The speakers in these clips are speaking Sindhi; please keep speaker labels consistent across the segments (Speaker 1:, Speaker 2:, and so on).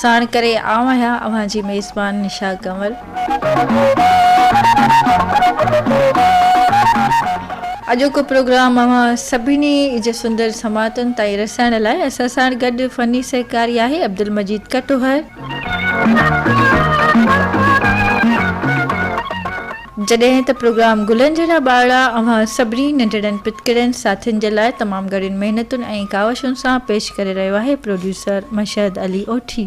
Speaker 1: ساڻ ڪري آئون آهيان اوهان جي ميزبان نشا ڪنور. اڄوڪو پروگرام اوهان سڀني جي سندر سماعتن تائين رسائڻ لاء اسان ساڻ گڏ فني سهڪاري آهي عبدالمجيد ڪٽوهر. جڏهن ته پروگرام گلن جهڙا ٻارڙا اوهان سڀني ننڍڙن پٽڪڙين ساٿين جي لاء تمام گهڻين محنتن ۽ ڪاوشن سان پيش ڪري رهيو آهي پروڊيوسر مشهد علي اوٺي.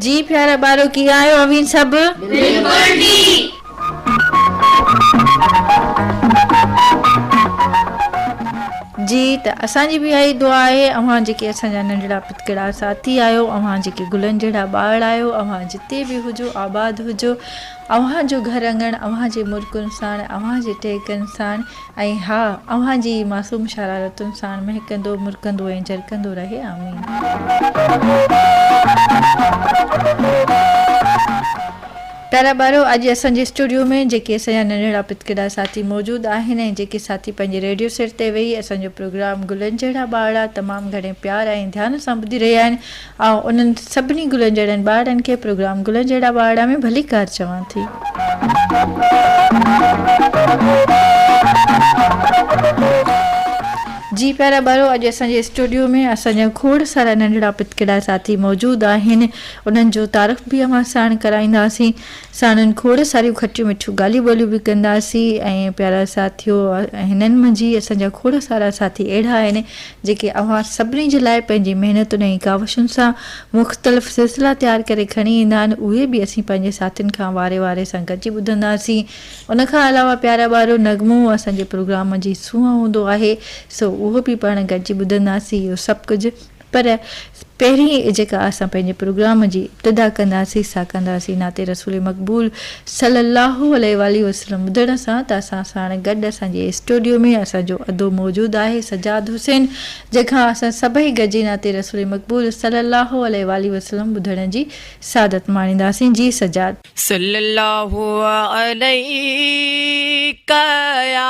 Speaker 1: جي پيارا ٻارڙو ڪيئن آهيو اوهين سڀ. بلڪل
Speaker 2: ٺيڪ.
Speaker 1: جي ته اسان جي به اها ئي دعا آهي. اوهان جيڪي اسان جا ننڍڙا پتڪڙا ساٿي آهيو، اوهان جيڪي گلن جهڙا ٻار آهيو، اوهان جتي به هجو آباد هجو. اوهان جو گهر اڱڻ اوهان جي مرڪن ساڻ، اوهان جي ٽهڪن ساڻ ۽ ها اوهان جي ئي معصوم شرارتن ساڻ مهڪندو، مرڪندو ۽ جرڪندو رهي. آمين. پيارا ٻارو! اڄ اسان جي اسٽوڊيو ۾ جيڪي اسان جا ننڍڙا پتڪڙا ساٿي موجود آهن ۽ جيڪي ساٿي پنهنجي ريڊيو سيٽ تي ويهي اسان جو پروگرام گلن جهڙا ٻارڙا تمام گهڻي پيار ۽ ڌيان سان ٻڌي رهيا آهن، آئون انهن سڀني گلن جهڙن ٻارڙن کي پروگرام گلن جهڙا ٻارڙا ۾ ڀليڪار چوان ٿي. جي پيارا ٻارو! اڄ اسان جي اسٽوڊيو ۾ اسان جا کوڙ سارا ننڍڙا پتڪڙا ساٿي موجود آهن. انهن جو تعارف به اوهان ساڻ ڪرائينداسين. ساڻن کوڙ ساريون کٽيون مٺيون ڳالهيون ٻولهيون به ڪنداسين. ۽ پيارا ساٿيو! هنن منجهه اسان جا کوڙ سارا ساٿي اهڙا آهن، جيڪي اوهان سڀني جي لاء پنهنجي محنتن ۽ ڪاوشن سان مختلف سلسلا تيار ڪري کڻي ايندا آهن. اهي به اسين پنهنجي ساٿين کان واري واري سان گڏجي ٻڌنداسين. ان کان علاوه پيارا ٻارو! نغمو اسان جي پروگرام جي سونهن هوندو آهي، سو اهو به پاڻ گڏجي ٻڌنداسين. اهو سڀ ڪجهه پر پهرين جيڪا اسان پنهنجي پروگرام جي ابتدا ڪنداسين سا ڪنداسين نعت رسول مقبول صلي الله عليه واٰله وسلم ٻڌڻ سان ته اسان ساڻ گڏ اسان جي اسٽوڊيو ۾ اسان جو ادو موجود آهي سجاد حسين جنهن کان اسان سڀئي گڏجي نعت رسول مقبول صلي الله عليه واٰله وسلم ٻڌڻ جي سعادت ماڻينداسين جي سجاد. صلي الله
Speaker 3: عليڪ يا.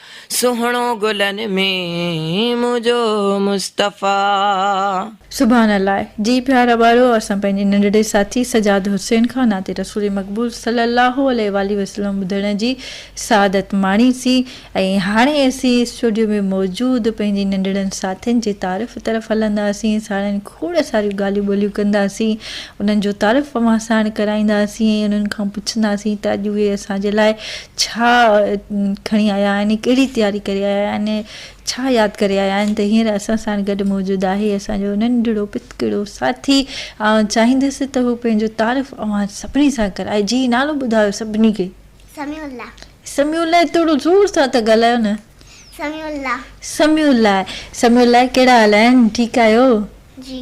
Speaker 3: سهڻو گلن ۾ منهنجو مصطفيٰ.
Speaker 1: سبحان الله جي پيار اٻارو اسان پنهنجي ننڍڙي ساٿي سجاد حسين کان نعت رسول مقبول صلي الله عليه واٰله وسلم ٻڌڻ جي سعادت ماڻي سين ۽ هاڻي اسين اسٽوڊيو ۾ موجود پنهنجي ننڍڙن ساٿين جي تعارف طرف هلنداسين ساڻن کوڙ ساريون ڳالهيون ٻولهيون ڪنداسين انهن جو تعارف اوهان ساڻ ڪرائينداسين ۽ انهن کان پڇنداسين ته اڄ اهي اسان جي لاء ڇا کڻي آيا آهن، ڪهڙي تياري ڪري آيا آهن ۽ ڇا ياد ڪري آيا آهن ته هينئر اسان ساڻ گڏ موجود آهي اسان جو ننڍڙو پتڪڙو ساٿي آئون چاهيندس ته هو پنهنجو تعارف اوهان سڀني سان ڪرائي جي نالو ٻڌايو سڀني کي. سميع الله.
Speaker 2: سميع الله
Speaker 1: ٿورو زور سان ته ڳالهايو نه. سميع
Speaker 2: الله. سميع الله.
Speaker 1: سميع الله ڪهڙا حال آهن ٺيڪ آهيو. جي.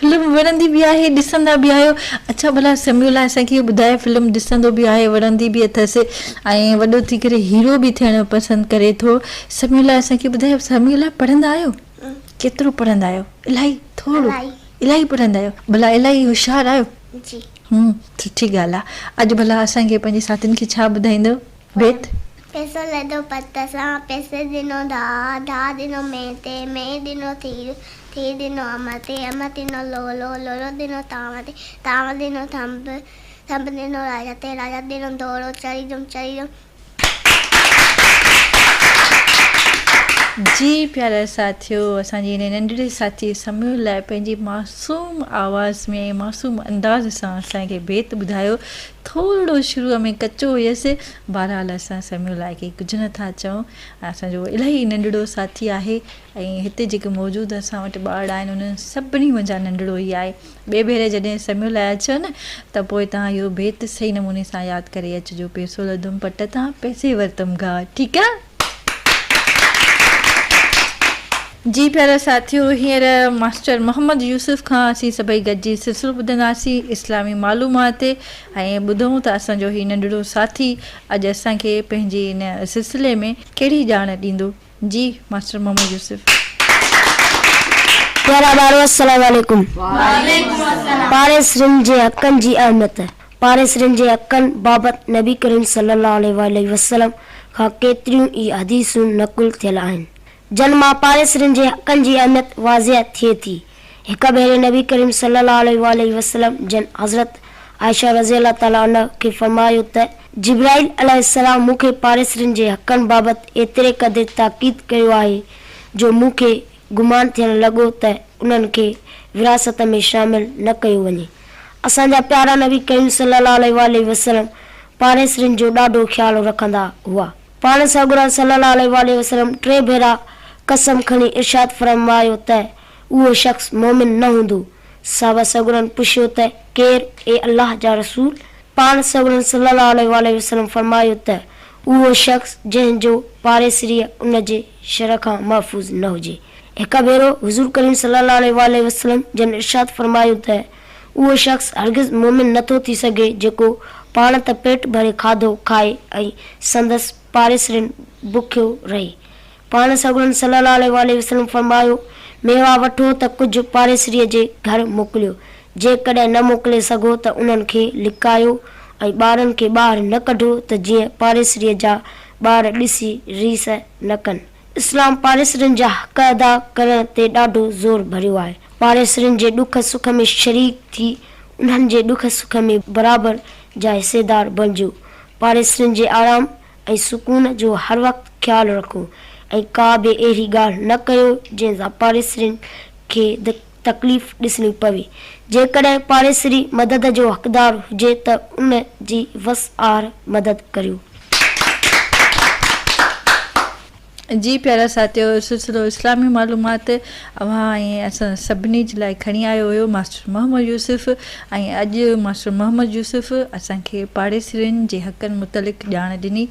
Speaker 1: فلم وڻندي به آهي ڏسندا به آهيو اڇا ڀلا سميولا اسان کي اهو ٻڌاء فلم ڏسندو به آهي وڻندي به اٿس ۽ وڏو ٿي ڪري هيرو به ٿيڻ پسند ڪري ٿو سميولا اسان کي ٻڌاء سميولا پڙهندا آهيو ڪيترو پڙهندا آهيو الاهي ٿورو الاهي پڙهندا آهيو ڀلا الاهي هوشيار آهيو جي هون
Speaker 2: سٺي
Speaker 1: ڳالهه آهي اڄ ڀلا اسان کي پنهنجي ساٿين کي ڇا ٻڌائيندو. بيت. پيسو لڌو
Speaker 2: پت سان، پيسي ڏنو داء، داء ڏنو مينهن تي، مينهن ڏنو ٿير، ٿير ڏنو انب تي، انب ڏنو لولو، لولو ڏنو تانء تي، تانء ڏنو ٿنڀ، ٿنڀ ڏنو راجا تي، راجا ڏنو دورو، چري جم، چري جم.
Speaker 1: جي پيارا ساٿيو اسان جي هن ننڍڙي ساٿي سميون لاء پنهنجي معصوم آواز ۾ معصوم انداز سان اسان کي بيت ٻڌايو ٿورڙو شروع ۾ ڪچو هيس، بهرحال اسان سميون لاء ڪي ڪجهه نه ٿا چئون، اسان جو الاهي ننڍڙو ساٿي آهي ۽ هتي جيڪي موجود اسان وٽ ٻارڙا آهن انهن سڀني منجهان ننڍڙو هي آهي. ٻئي ڀيري جڏهن سميون لاء اچيو نه ته پوء توهان اهو بيت صحيح نموني سان ياد ڪري اچجو، پيسو لڌم پٽ تان، پيسي ورتم گاهه، ٺيڪ آ؟ جي پيارا ساٿيو هينئر ماسٽر محمد يوسف کان اسين سڀئي گڏجي سلسلو ٻڌنداسين اسلامي معلومات ۽ ٻڌون ته اسان جو هي ننڍڙو ساٿي اڄ اسان کي پنهنجي ان سلسلي ۾ ڪهڙي ڄاڻ ڏيندو جي ماسٽر محمد يوسف. پيارا ٻارو السلام عليڪم
Speaker 4: پاڻ سرن جي حقن جي اهميت. پاريسرين جي حقن بابت نبي ڪريم صلي الله عليه واٰله وسلم کان ڪيتريون ئي حديثون نقل ٿيل آهن، جن مان پاريسرين جي حقن جي اهميت واضح ٿئي ٿي. هڪ ڀيري نبي ڪريم صلي الله عليه واٰله وسلم جن حضرت عائشه رضي الله تعالٰي عنها کي فرمايو ته، جبرائيل عليه السلام مون کي پاريسرين جي حقن بابت ايتري قدر تاڪيد ڪيو آهي، جو مون کي، گمان ٿيڻ لڳو ته انهن کي وراثت ۾ شامل نه ڪيو وڃي. اسان جا پيارا نبي ڪريم صلي الله عليه واٰله وسلم پاڙيسرين جو ڏاڍو خيال رکندا هئا. پاڻ سڳورا صلي الله عليه واٰله وسلم ٽي ڀيرا قسم کڻي ارشاد فرمايو ته اهو شخص مؤمن نه هوندو. صحابه سڳورن پڇيو ته ڪير اي الله جا رسول؟ پاڻ سڳورن صلي الله عليه واٰله وسلم فرمايو ته اهو شخص جنهن جو پاڙيسريء ان جي شرع کان محفوظ نه هجي. هڪ ڀيرو حضور ڪريم صلي الله عليه واٰله وسلم جن ارشاد فرمايو ته، اهو شخص هرگز مؤمن نه ٿو ٿي سگهي جيڪو پاڻ ته پيٽ ڀري کاڌو کائي ۽ سندس پاڙيسرين بکيو رهي. پاڻ سڳورن صلي الله عليه واٰله وسلم فرمايو، ميوا وٺو ته ڪجهه پاڙيسريء جي گهر موڪليو، جيڪڏهن نه موڪلي سگهو ته انهن کي لڪايو ۽ ٻارن کي ٻاهر نه ڪڍو ته جيئن پاڙيسريء جا ٻار ڏسي ريس نه ڪن. اسلام پاڙيسرين جا حق ادا ڪرڻ تي ڏاڍو زور ڀريو آهي. پاڙيسرين جي ڏک سک ۾ شريڪ ٿي انهن جي ڏک سک ۾ برابر جا حصيدار بڻجو. پاڙيسرين جي آرام ۽ سڪون جو هر وقت خيال رکو ۽ ڪا به اهڙي ڳالهه نه ڪيو جنهن سان پاڙيسرين کي تڪليف ڏسڻي پوي. جيڪڏهن پاڙيسري مدد جو حقدار هجي ته ان جي وس آهر مدد ڪريو.
Speaker 1: جي پيارا ساٿيو اهو سلسلو اسلامي معلومات اوهان ۽ اسان سڀني جي لاء کڻي آيو هيو ماسٽر محمد يوسف ۽ اڄ ماسٽر محمد يوسف اسان کي پاڙيسرين جي حقن متعلق ڄاڻ ڏني.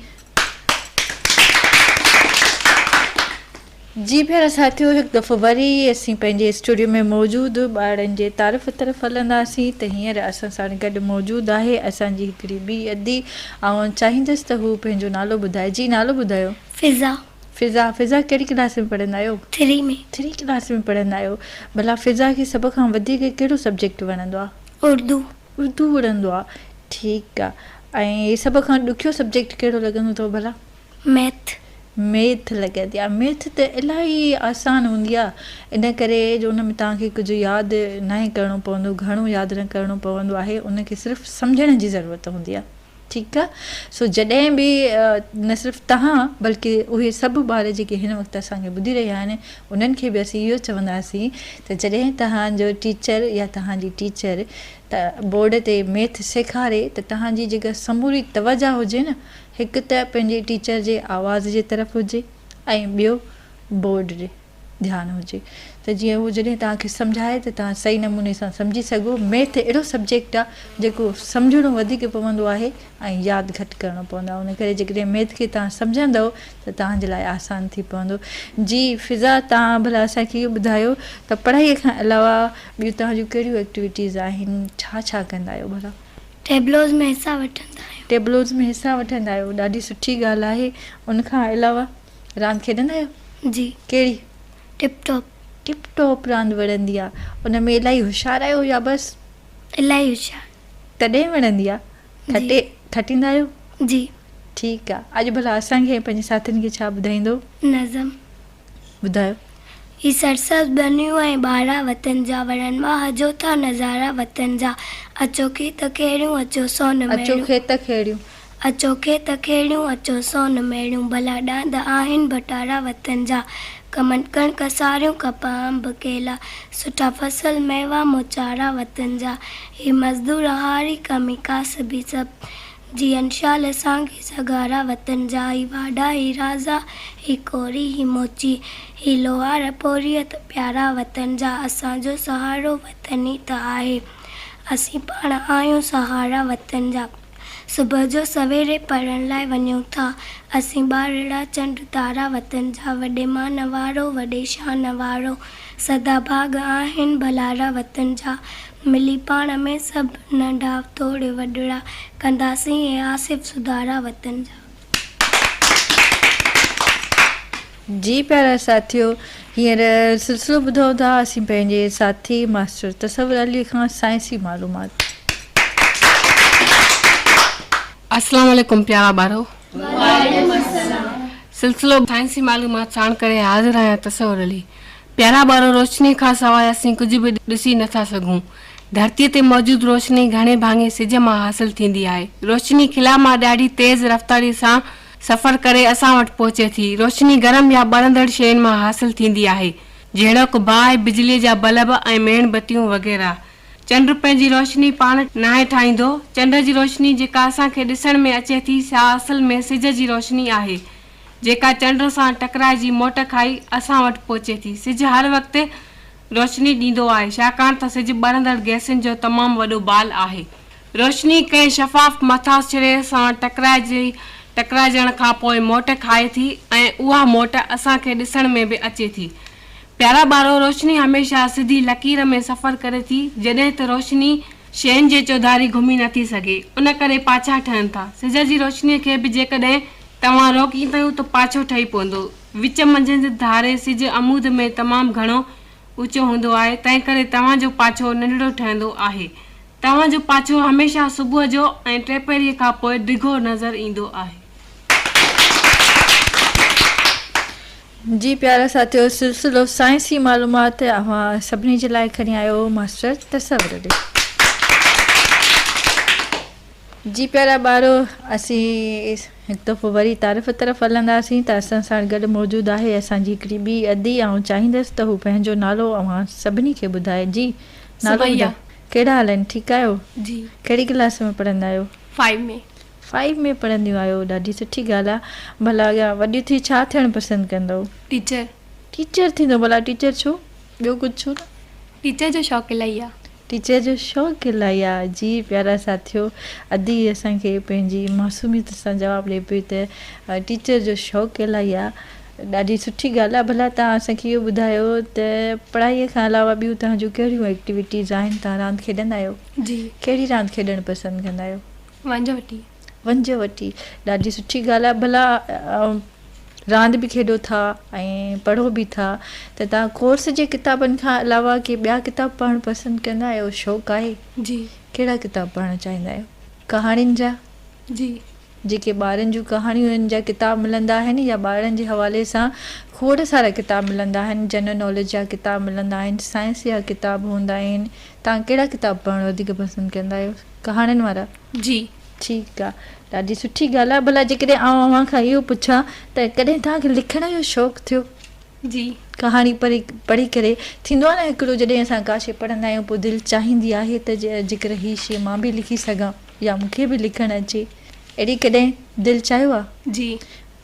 Speaker 1: جي ڀيڻ ساٿيو هڪ دفعو وري اسين پنهنجي اسٽوڊيو ۾ موجود ٻارڙن جي تعارف طرف هلنداسين ته هينئر اسان ساڻ گڏ موجود آهي اسان جي هڪڙي ٻي ادي آئون چاهيندس ته هو پنهنجو نالو ٻڌائي جي نالو ٻڌايو. فضا.
Speaker 2: فضا فضا
Speaker 1: ڪهڙي ڪلاس ۾ پڙهندا آهيو؟ ٿري ۾. ٿري
Speaker 2: ڪلاس ۾ پڙهندا
Speaker 1: آهيو ڀلا فضا کي سڀ کان وڌيڪ ڪهڙو سبجيڪٽ وڻندو آهي؟ اردو. اردو وڻندو آهي ٺيڪ آهي ۽ سڀ کان ڏکيو سبجيڪٽ ڪهڙو لڳندو اٿو ڀلا؟ ميٿ. ميٿ لڳي ٿي آ ميٿ ته الاهي آسان هوندي آ ان ڪري جو ان ۾ توهان کي ڪجهه ياد ناهي ڪرڻو پوندو گهڻو ياد نه ڪرڻو پوندو آهي ان کي صرف سمجهڻ جي ضرورت هوندي آ ٺيڪ آ سو جڏهن به نه صرف توهان بلڪه اهي سڀ ٻار جيڪي هن وقت اسان کي ٻڌي رهيا آهن انهن کي به اسين اهو چونداسين ته جڏهن توهان جو ٽيچر يا توهان جي ٽيچر بورڊ تي ميٿ سيکاري ته توهان جي جيڪا سموري توجهه هجي نه هڪ ته پنهنجي ٽيچر جي آواز جي طرف هجي ۽ ٻيو بورڊ ڏي ڌيان هجي ته جيئن هو جڏهن توهان کي سمجهائي ته توهان صحيح نموني سان سمجهي سگهو. ميٿ اهڙو سبجيڪٽ آهي جيڪو سمجهڻو وڌيڪ پوندو آهي ۽ ياد گهٽ ڪرڻو پوندو آهي ان ڪري جيڪڏهن ميٿ کي توهان سمجهندؤ ته توهان جي لاء آسان ٿي پوندو. جي فضا توهان ڀلا اسان کي اهو ٻڌايو ته پڙهائي کان علاوه ٻيون توهان جون ڪهڙيون ايڪٽيوٽيز آهن ڇا ڇا ڪندا آهيو ڀلا. ٽيبلوز ۾ حصا
Speaker 2: وٺندا آهيو. ٽيبلوز ۾ حصا وٺندا آهيو. ڏاڍي سٺي ڳالهه آهي.
Speaker 1: ان کان علاوه راند کيڏندا آهيو؟ جي. ڪهڙي؟ ٽپ ٽاپ.
Speaker 2: ٽپ ٽاپ راند
Speaker 1: وڻندي آهي. ان ۾ الاهي هوشيار آهيو يا بس؟ الاهي
Speaker 2: هوشيار. تڏهن وڻندي
Speaker 1: آهي. کٽي کٽيندا آهيو؟ جي.
Speaker 2: ٺيڪ آهي.
Speaker 1: اڄ ڀلا اسان کي ۽ پنهنجي ساٿين کي ڇا ٻڌائيندو؟ نظم.
Speaker 2: ٻڌايو.
Speaker 1: هي
Speaker 2: سرسبز ٻنيون ۽ ٻارا وطن جا وڻن مان هجو ٿا نظارا وطن جا اچو کيت کيڙيون اچو سون ميڙيون. اچو کيت کيڙيون. اچو کيت کيڙيون اچو سون ميڙيون ڀلا ڏاند آهن ڀٽارا وطن جا کمن ڪڻڪ ساريون ڪپهه انب ڪيلا سٺا فصل ميوا موچارا وطن جا هي مزدور هاري ڪمي ڪاسبي سڀ جي انشال اسان کي سگهارا وطن جا هي واڍا هي رازا هي ڪوري هي موچي هي لوهار پوريء ته پيارا وطن جا اسان جو سهارو وطن ئي ته آهي اسين پاڻ آهيون سهارا وطن جا صبح جو سويري پڙهڻ لاء وڃون ٿا اسين ٻارڙا چنڊ تارا وطن جا وڏي مان وارو وڏي شان وارو سدا ڀاڳ آهن ڀلارا وطن جا ملي پاڻ ۾ سڀ ننڍا توڙي وڏڙا ڪنداسين اي آصف سڌارا وطن جا.
Speaker 1: جي پيارا ساٿيو هينئر سلسلو ٻڌو ٿا اسين پنهنجي ساٿي ماسٽر تصور علي کان سائنسي معلومات.
Speaker 5: اسلام عليڪم پيارا ٻارو. وعليڪم السلام. سلسلو سائنسي معلومات ساڻ ڪري حاضر آهيان تصور علي. پيارا ٻارو، روشنيء کان سواء اسين ڪجهه به ڏسي نه ٿا سگهون. ڌرتيء تي موجود روشني گهڻي ڀاڱي سج مان حاصل ٿيندي آهي. روشني خلا مان ڏاڍي تيز رفتاريء سان سفر ڪري اسان وٽ پهچي ٿي. روشني گرم يا ٻرندڙ شين مان حاصل ٿيندي آهي، جهڙوڪ باهه، بجليء جا بلب ۽ ميڻ بتيون وغيره. چنڊ پنهنجي روشني پاڻ ناهي ٺاهيندو. چنڊ جي روشني جيڪا اسان کي ڏسڻ ۾ اچي ٿي، سا اصل ۾ سج جي روشني آهي. جيڪا چنڊ سان ٽڪرائجي موٽ کائي اسان وٽ پهچي ٿي. سج هر وقت روشني ڏيندو آهي، ڇاڪاڻ ته سج ٻرندڙ گئسن جو تمام وڏو بال آهي. روشني ڪنهن شفاف مٿاڇري سان ٽڪرائجي ٽڪرائجڻ کان پوء موٽ کائي ٿي ۽ اها موٽ اسان کي ڏسڻ ۾ به اچي ٿي. پيارا ٻارو، روشني هميشه سڌي لڪير ۾ سفر ڪري ٿي، جڏهن ته روشني، شين جي چوڌاري گهمي نٿي سگهي، ان ڪري پاڇا ٺهن ٿا. سج جي روشني کي به جيڪڏهن. توهان روڪيندؤ ته پاڇو ٺهي پوندو. وچ منجهند ڌاري سج عمود ۾ تمام گهڻو اوچو هوندو آهي، تنهنڪري توهان جو پاڇو ننڍڙو ٺهندو آهي. توهان جو پاڇو هميشه صبح جو ۽ ٽيپهريء کان پوء ڊگهو نظر ايندو آهي.
Speaker 1: جي پيارا ساٿيو سلسلو سائنسي معلومات اوهان سڀني جي لاء کڻي آيو ماسٽر تصور علي. جي پيارا ٻارو! اسين هڪ دفعو وري تعارف طرف هلنداسين ته اسان ساڻ گڏ موجود آهي اسان جي هڪڙي ٻي ادي آئون چاهيندس ته هو پنهنجو نالو اوهان سڀني کي ٻڌائي جي نالو ٻڌاء ڪهڙا حال آهن ٺيڪ آهيو جي ڪهڙي ڪلاس ۾ پڙهندا آهيو فائيو ۾ فائيو ۾ پڙهنديون آهيو ڏاڍي سٺي ڳالهه آهي ڀلا اڳيان وڏيون ٿي ڇا ٿيڻ پسند ڪندؤ ٽيچر ٽيچر ٿيندو ڀلا ٽيچر ڇو ٻيو ڪجهه ڇو نه. ٽيچر جو شوق
Speaker 6: الائي آ. ٽيچر جو شوق
Speaker 1: الائي آ. جي پيارا ساٿيو ادي اسان کي پنهنجي معصوميت سان جواب ڏي پئي ته ٽيچر جو شوق الائي آ. ڏاڍي سٺي ڳالهه آ. ڀلا توهان اسان کي اهو ٻڌايو ته پڙهائي کان علاوه ٻيون توهان جون ڪهڙيون ايڪٽيوٽيز آهن؟ توهان راند کيڏندا آهيو؟ جي. ڪهڙي راند
Speaker 6: کيڏڻ
Speaker 1: پسند ڪندا آهيو؟ ونجهه وٽي.
Speaker 6: ونجهه وٽي
Speaker 1: ڏاڍي سٺي ڳالهه آهي ڀلا راند به کيڏو ٿا ۽ پڙهو به ٿا ته تان ڪورس جي ڪتابن کان علاوه ڪي ٻيا ڪتاب پڙهڻ پسند ڪندا آهيو شوق آهي جي ڪهڙا
Speaker 6: ڪتاب پڙهڻ
Speaker 1: چاهيندا آهيو ڪهاڻين جا جي
Speaker 6: جيڪي ٻارن
Speaker 1: جون ڪهاڻيون انهن جا ڪتاب ملندا آهن يا ٻارن جي حوالي سان کوڙ سارا ڪتاب ملندا آهن جنرل ناليج جا ڪتاب ملندا آهن سائنس جا ڪتاب هوندا آهن تان ڪهڙا ڪتاب پڙهڻ وڌيڪ پسند ڪندا آهيو ڪهاڻين وارا؟ جي.
Speaker 6: ٺيڪ آ.
Speaker 1: ڏاڍي سٺي ڳالهه آهي. ڀلا جيڪڏهن آئون اوهان کان اهو پڇان ته ڪڏهن توهان کي لکڻ جو شوق ٿيو؟ جي.
Speaker 6: ڪهاڻي پڙهي
Speaker 1: پڙهي ڪري ٿيندو آهي نه هڪڙو جڏهن اسان ڪا شيء پڙهندا آهيون پوء دل چاهيندي آهي ته جيڪر هي شيء مان به لکي سگهان يا مون کي به لکڻ اچي اهڙي ڪڏهن دل چاهيو آهي؟ جي.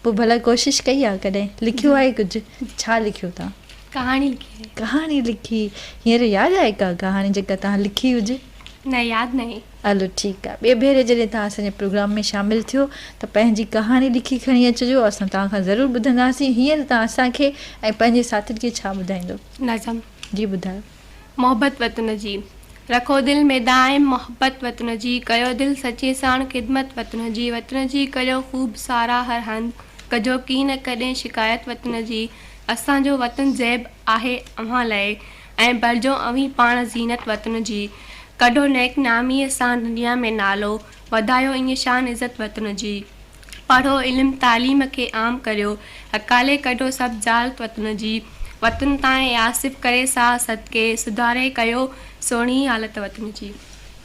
Speaker 1: پوء ڀلا
Speaker 6: ڪوشش
Speaker 1: ڪئي آهي ڪڏهن؟ لکيو آهي ڪجهه؟ ڇا لکيو توهان؟ ڪهاڻي لکي آهي.
Speaker 6: ڪهاڻي لکي.
Speaker 1: هينئر ياد آهي ڪا ڪهاڻي جيڪا توهان لکي هجي؟ نه ياد ناهي.
Speaker 6: هلو ٺيڪ آهي ٻئي
Speaker 1: ڀيري جڏهن توهان اسان جي پروگرام ۾ شامل ٿيو ته پنهنجي ڪهاڻي لکي کڻي اچجو اسان توهان کان ضرور ٻڌنداسين هينئر توهان اسان کي ۽ پنهنجي ساٿين کي ڇا ٻڌائيندو؟ نظم. جي
Speaker 6: ٻڌايو.
Speaker 1: محبت وطن
Speaker 6: جي رکو دل ۾ دائم محبت وطن جي ڪيو دل سچي ساڻ خدمت وطن جي وطن جي ڪريو خوب ساراهه هر هنڌ ڪجو ڪين ڪڏهن شڪايت وطن جي اسان جو وطن زيب آهي اوهان لئه ۽ برجو اوهين پاڻ زينت وطن جي. ڪڍو نيڪ ناميء سان دنيا ۾ نالو، وڌايو ائين شان عزت وطن جي. پڙهو علم تعليم کي عام ڪريو، اڪالي ڪڍو سڀ جهالت وطن جي. وطن تان اي آصف ڪري ساهه صدقي، سڌاري ڪيو سهڻي حالت وطن جي.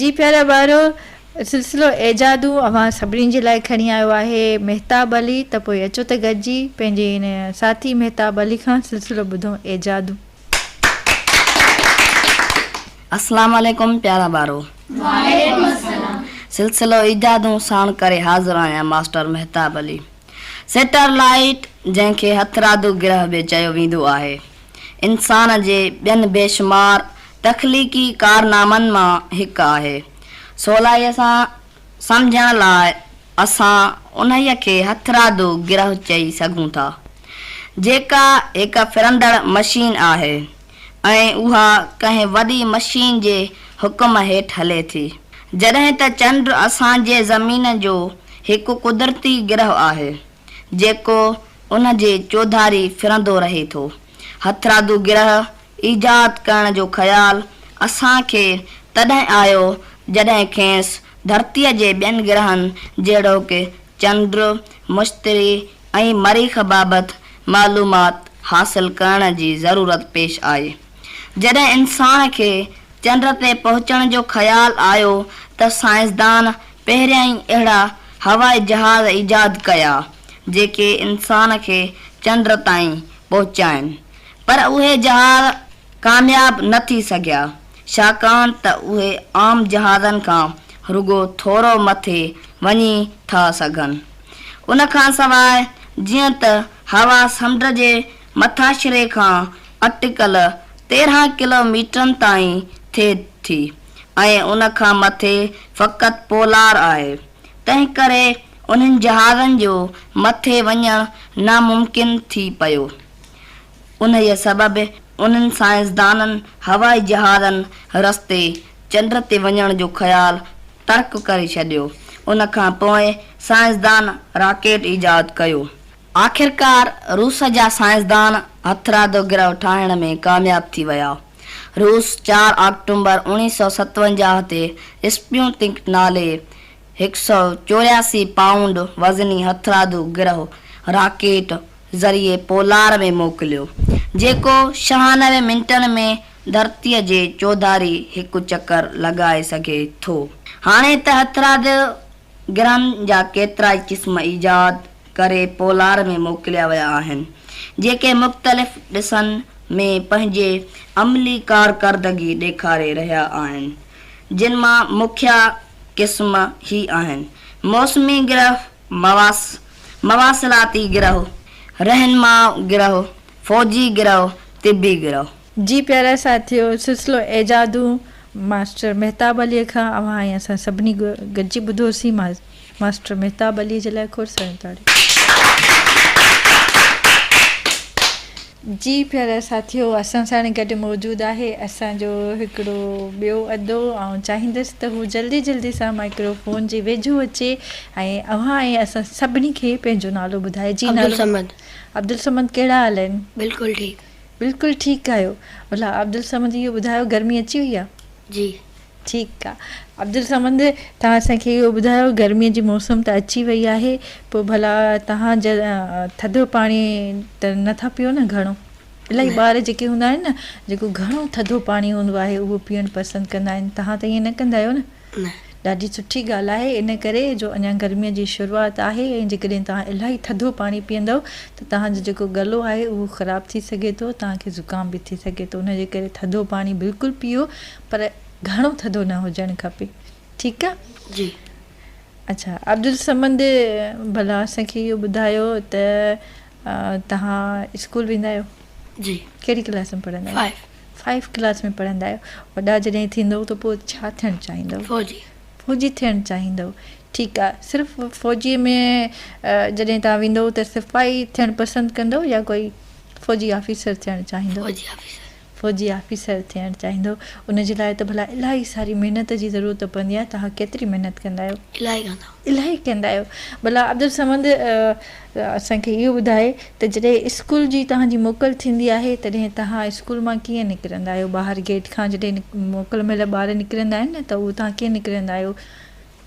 Speaker 1: جي پيارا ٻارو، سلسلو ايجادون اوهان سڀني جي لاء کڻي آيو آهي مهتاب علي، ته پوء اچو ته گڏجي پنهنجي ان ساٿي مهتاب علي کان سلسلو ٻڌون ايجادون.
Speaker 7: اسلام عليڪم پيارا ٻارو. وعليڪم السلام. سلسلو ايجادون ساڻ ڪري حاضر آهيان master Mahtab Ali. Satellite جنهن کي هٿرادو گرهه به چيو ويندو آهي. انسان جي ٻين بيشمار تخليقي ڪارنامن مان هڪ آهي. سولائيء سان سمجهڻ لاء اسان انهيء کي هٿرادو گرهه چئي سگهون ٿا، جيڪا هڪ ڦرندڙ مشين آهي ۽ اها ڪنهن وڏي مشين جي حڪم هيٺ هلي ٿي. جڏهن ته چنڊ اسان جي زمين جو هڪ قدرتي گرهه آهي. جيڪو ان جي چوڌاري ڦرندو رهي ٿو. هٿرادو گرهه ايجاد ڪرڻ جو خيال اسان کي تڏهن آيو جڏهن کيس ڌرتيء جي ٻين گرهن جهڙوڪ چنڊ، مشتري ۽ مريخ بابت معلومات حاصل ڪرڻ جي ضرورت پيش آئي. جڏهن انسان کي چنڊ تي پهچڻ جو خيال آيو ته سائنسدان پهريائين اهڙا هوائي جهاز ايجاد ڪيا جيڪي انسان کي چنڊ تائين پهچائين پر اهي جهاز ڪامياب نه ٿي سگهيا ڇاڪاڻ ته اهي عام جهازن کان رڳو ٿورو مٿي وڃي ٿا سگهن ان کانسواء جيئن ته هوا سمنڊ جي مٿاڇري کان اٽڪل تيرهن ڪلو ميٽرن تائين ٿئي ٿي ۽ ان کان مٿي فقط پولار آهي، تنهنڪري انهن جهازن جو مٿي وڃڻ ناممڪن ٿي پيو. انهيء سبب انهن سائنسدانن هوائي جهازن رستي چنڊ تي وڃڻ جو خيال ترڪ ڪري ڇڏيو. ان کان پوء سائنسدان راڪيٽ ايجاد ڪيو. آخرڪار روس جا سائنسدان هٿرادو گرهه ٺاهڻ ۾ ڪامياب ٿي ويا. روس چار آڪٽومبر اوڻيهه سؤ ستونجاهه تي اسپيوتنڪ نالي هڪ سؤ چورياسي پائونڊ وزني هٿرادو گرهه راڪيٽ ذريعي پولار ۾ موڪليو، جيڪو ڇهانوي منٽن ۾ ڌرتيء جي چوڌاري هڪ چڪر لڳائي سگهي ٿو. هاڻي ته هٿرادو گرام جا ڪيترائي قسم ايجاد ڪري پولار ۾ موڪليا ويا آهن، جيڪي مختلف ڏسن ۾ پنهنجي عملي ڪارڪردگي ڏيکاري رهيا آهن، جن مان مکيه قسم هي آهن، موسمي گرهه، مواص، مواصلاتي گرهه، رهنما گرهه، فوجي گرهه، طبي گرهه. جي پيارا
Speaker 1: ساٿيو سلسلو ايجادون ماسٽر مهتاب علي کان اوهان ۽ اسان سڀني گڏجي ٻڌوسين ماسٽر مهتاب علي جي لاء کوڙ ساريون تاڙيون. جي پيارا ساٿيو اسان ساڻ گڏ موجود آهي اسان جو هڪڙو ٻيو ادو آئون چاهيندس ته هو جلدي جلدي سان مائڪرو فون جي ويجهو اچي ۽ اوهان ۽ اسان سڀني کي پنهنجو نالو ٻڌائي جي نالو عبدالصمد عبدالصمد ڪهڙا حال آهن بلڪل ٺيڪ.
Speaker 4: بلڪل ٺيڪ ڳايو.
Speaker 1: ڀلا عبدالصمد اهو ٻڌايو گرمي اچي وئي آ. جي.
Speaker 4: ٺيڪ
Speaker 1: آ عبدالصمد توهان اسان کي اهو ٻڌايو گرمي جي موسم ته اچي وئي آهي پو ڀلا توهان ٿڌو پاڻي ته نه ٿا پيئو نه گهڻو. الاهي ٻار جيڪي هوندا آهن نه جيڪو گهڻو ٿڌو پاڻي هوندو آهي اهو پيئڻ پسند ڪندا آهن توهان ته ائين نه ڪندا آهيو نه. نه. ڏاڍي سٺي ڳالهه آهي ان ڪري جو اڃا گرميء جي شروعات آهي ۽ جيڪڏهن توهان الاهي ٿڌو پاڻي پيئندؤ ته توهان جو جيڪو ڳلو آهي اهو خراب ٿي سگهي ٿو توهان کي زڪام به ٿي سگهي ٿو ان جي ڪري ٿڌو پاڻي بلڪل پيئو پر گهڻو ٿڌو نه هجڻ کپي ٺيڪ آ جي.
Speaker 4: اڇا
Speaker 1: عبدالصمد ڀلا اسان کي اهو ٻڌايو ته توهان اسڪول ويندا آهيو. جي ڪهڙي
Speaker 4: ڪلاس ۾
Speaker 1: پڙهندا آهيو فائيو فائيو ڪلاس ۾ پڙهندا آهيو وڏا جڏهن ٿيندو ته پوء ڇا ٿيڻ چاهيندو فوجي فوجي ٿيڻ چاهيندو ٺيڪ آهي صرف فوجي ۾ جڏهن تان ويندو ته سپاهي ٿيڻ پسند ڪندو يا ڪوئي فوجي آفيسر ٿيڻ چاهيندو فوجي آفيسر فوجي آفيسر ٿيڻ چاهيندو ان جي لاء ته ڀلا الاهي ساري محنت جي ضرورت پوندي آهي تها ڪيتري محنت ڪندا آهيو الاهي ڪندا الاهي ڪندا آهيو ڀلا عبدالصمد اسان کي اهو ٻڌاء ته جڏهن اسڪول جي توهان جي موڪل ٿيندي آهي تڏهن توهان اسڪول مان ڪيئن نڪرندا آهيو ٻاهر گيٽ کان جڏهن موڪل مهل ٻار نڪرندا آهن نه ته اهو توهان ڪيئن نڪرندا آهيو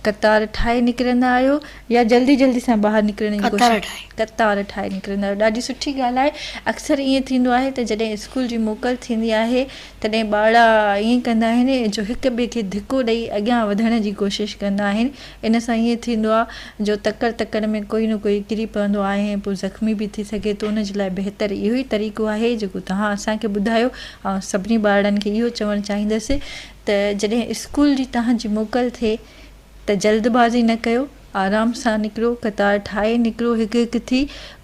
Speaker 1: قطار ٺاهي نڪرندا آهيو يا جلدي جلدي سان ٻاهر نڪرڻ جي قطار ٺاهي قطار ٺاهي نڪرندا آهيو ڏاڍي سٺي ڳالهه آهي اڪثر ائين ٿيندو آهي ته جڏهن اسڪول جي موڪل ٿيندي آهي تڏهن ٻارڙا ائين ڪندا آهن جو هڪ ٻئي کي ڌڪو ڏئي اڳيان وڌڻ جي ڪوشش ڪندا آهن. ان سان ائين ٿيندو آهي جو تڪڙ تڪڙ ۾ ڪوئي نه ڪوئي ڪري پوندو آهي ۽ پوء زخمي به ٿي سگهي ٿو. ان جي لاء بهتر اهو ئي طريقو آهي جيڪو توهان اسان کي ٻڌايو. آئون سڀني ٻارڙن کي اهو چوڻ چاهيندس ته جڏهن اسڪول جي توهان جي موڪل ٿئي ته جلد بازي نه ڪيو. آرام سان نڪرو، قطار ٺاهي نڪرو هڪ هڪ ٿي.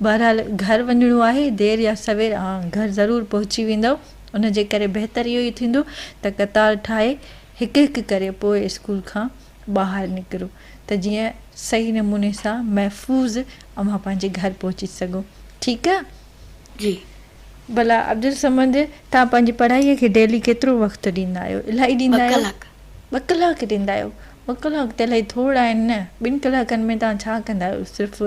Speaker 1: بهرحال گهر وڃڻو آهي. دير يا سوير اوهان گهر ضرور پهچي ويندؤ. ان جي ڪري بهتر اهو ئي ٿيندو ته قطار ٺاهي هڪ هڪ ڪري پوء اسڪول کان ٻاهر نڪرو ته جيئن صحيح نموني سان محفوظ اوهان پنهنجي گهر پهچي سگهو ٺيڪ آ جي
Speaker 4: ڀلا
Speaker 1: عبدالصمد تان پنهنجي پڙهائي کي ڊيلي ڪيترو وقت ڏيندا آهيو الائي ڏيندا آهيو ٻه ڪلاڪ ڏيندا آهيو ٻه ڪلاڪ ته الائي ٿورڙا آهن نه ٻن ڪلاڪن ۾ تان ڇا ڪندا آهيو صرف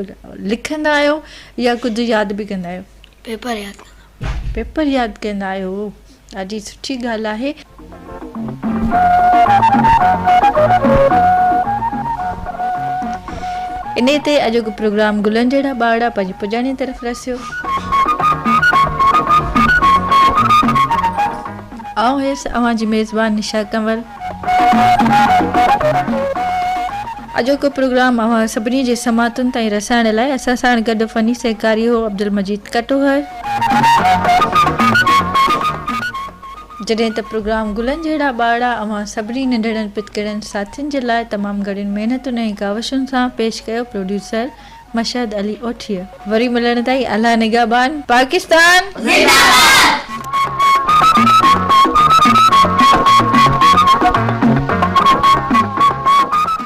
Speaker 1: لکندا آهيو يا ڪجهه ياد به ڪندا آهيو پيپر ياد پيپر ياد ڪندا آهيو هو ڏاڍي سٺي ڳالهه آهي. انهي تي اڄوڪو پروگرام گلن جهڙا ٻارڙا پنهنجي پڄاڻي طرف رسيو. آئون هيس اوهان جي ميزبان نشا ڪنول. اڄوڪو پروگرام اوهان سڀني جي سماعتن تائين رسائڻ لاء اسان ساڻ گڏ فني سهڪاري هو عبدالمجيد ڪٽوهر. جڏهن ته پروگرام گلن جهڙا ٻارڙا اوهان سڀني ننڍڙن پتڪڙن ساٿين جي لاء تمام گهڻين محنتن ۽ ڪاوشن سان پيش ڪيو پروڊيوسر مشهد علي اوٺيء. وري ملڻ تائين الله نگهبان. پاڪستان زنده باد.